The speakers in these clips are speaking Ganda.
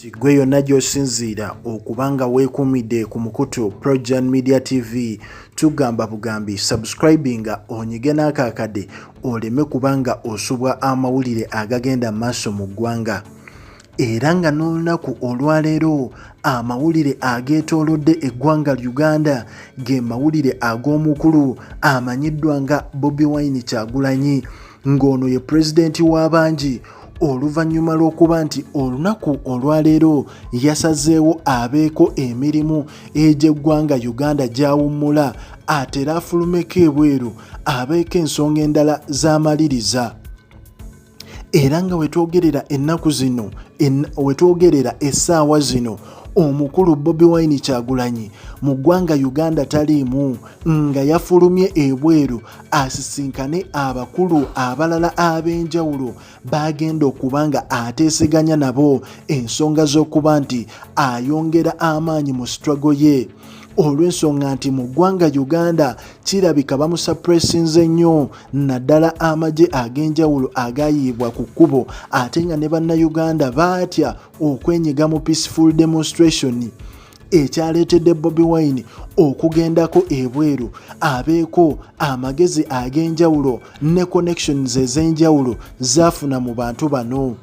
Ggwe yonna gy'osinziira okuba nga weekuumidde ku mukutu Projan Media TV tugamba bugambi subscribinga onyige n'akaakade oleme kuba nga osubwa amawulire agagenda mu maaso mu ggwanga era nga n'olunaku olwaleero amawulire ageetoolodde eggwanga uganda ge mawulire ag'omukulu amanyiddwa nga bobi wine kyagulanyi ng'ono ye pulezidenti w'abangi oluvannyuma lw'okuba nti olunaku olwaleero yasazeewo abeeko emirimu egy'eggwanga uganda gy'awummula atera afulumeko ebweru abeeko ensonga endala z'amaliriza era nga wetwogerera ennaku zino wetwogerera essaawa zino omukulu bobi wine kyagulanyi mu ggwanga uganda taliimu nga yafulumye ebweru asisinkane abakulu abalala ab'enjawulo baagenda okuba nga ateeseganya nabo ensonga z'okuba nti ayongera amaanyi mu struggle ye olw'ensonga nti mu ggwanga uganda kirabika bamusapuresinze nnyo naddala amagye ag'enjawulo agayiibwa ku kkubo ate nga ne bannayuganda baatya okwenyiga mu peaceful demonstration ekyaleetedde bobi wine okugendako ebweru abeeko amagezi ag'enjawulo ne connections ez'enjawulo zaafuna mu bantu bano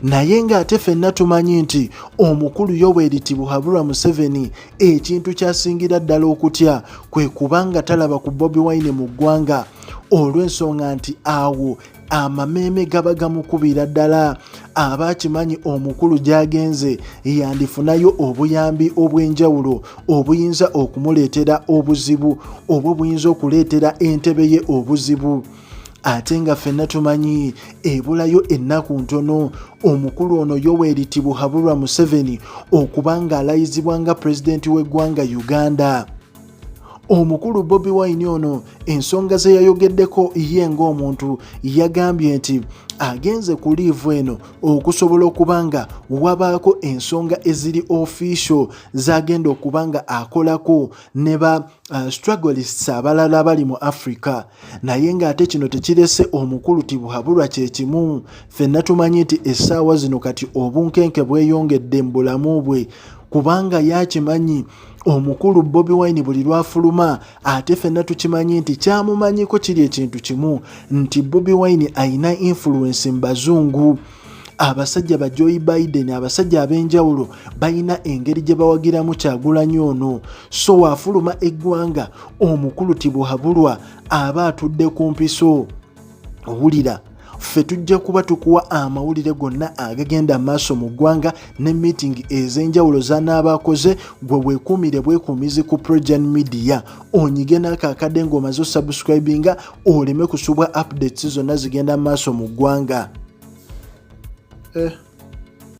naye ng'ate fenna tumanyi nti omukulu yoweri tibuhaburwa museveni ekintu kyasingira ddala okutya kwe kubanga talaba ku bobi wine mu ggwanga olw'ensonga nti awo amameeme gaba gamukubira ddala aba akimanyi omukulu gy'agenze yandifunayo obuyambi obw'enjawulo obuyinza okumuleetera obuzibu obwo buyinza okuleetera entebe ye obuzibu ate nga ffenna tumanyi ebulayo ennaku ntono omukulu ono yoweri tibuhaburwa museveni okuba ng'alayizibwa nga pulezidenti w'eggwanga uganda omukulu bobi wine ono ensonga ze yayogeddeko ye ng'omuntu yagambye nti agenze ku liivu eno okusobola okuba nga wabaako ensonga eziri official zagenda okuba nga akolako ne ba uh, struggles abalala abali mu africa naye ng'ate kino tekirese omukulu tibuhabulwa kye kimu fenna tumanyi nti essaawa zino kati obunkenke bweyongedde mu bulamu bwe kubanga yakimanyi omukulu bobi wine buli lwafuluma ate fenna tukimanyi nti kyamumanyiko kiri ekintu kimu nti bobi wine ayina influence mu bazungu abasajja ba joy biden abasajja ab'enjawulo balina engeri gye bawagiramu kyagulanyi ono so waafuluma eggwanga omukulu tibuhabulwa aba atudde ku mpiso wulira ffe tujja kuba tukuwa amawulire gonna agagenda maaso mu ggwanga ne miitingi ez'enjawulo zanaaba akoze gwe weekuumire bwekuumizi ku progen media onyige naako akadde ng'omaze osubscribinga oleme kusubwa updates zonna zigenda maaso mu ggwanga eh.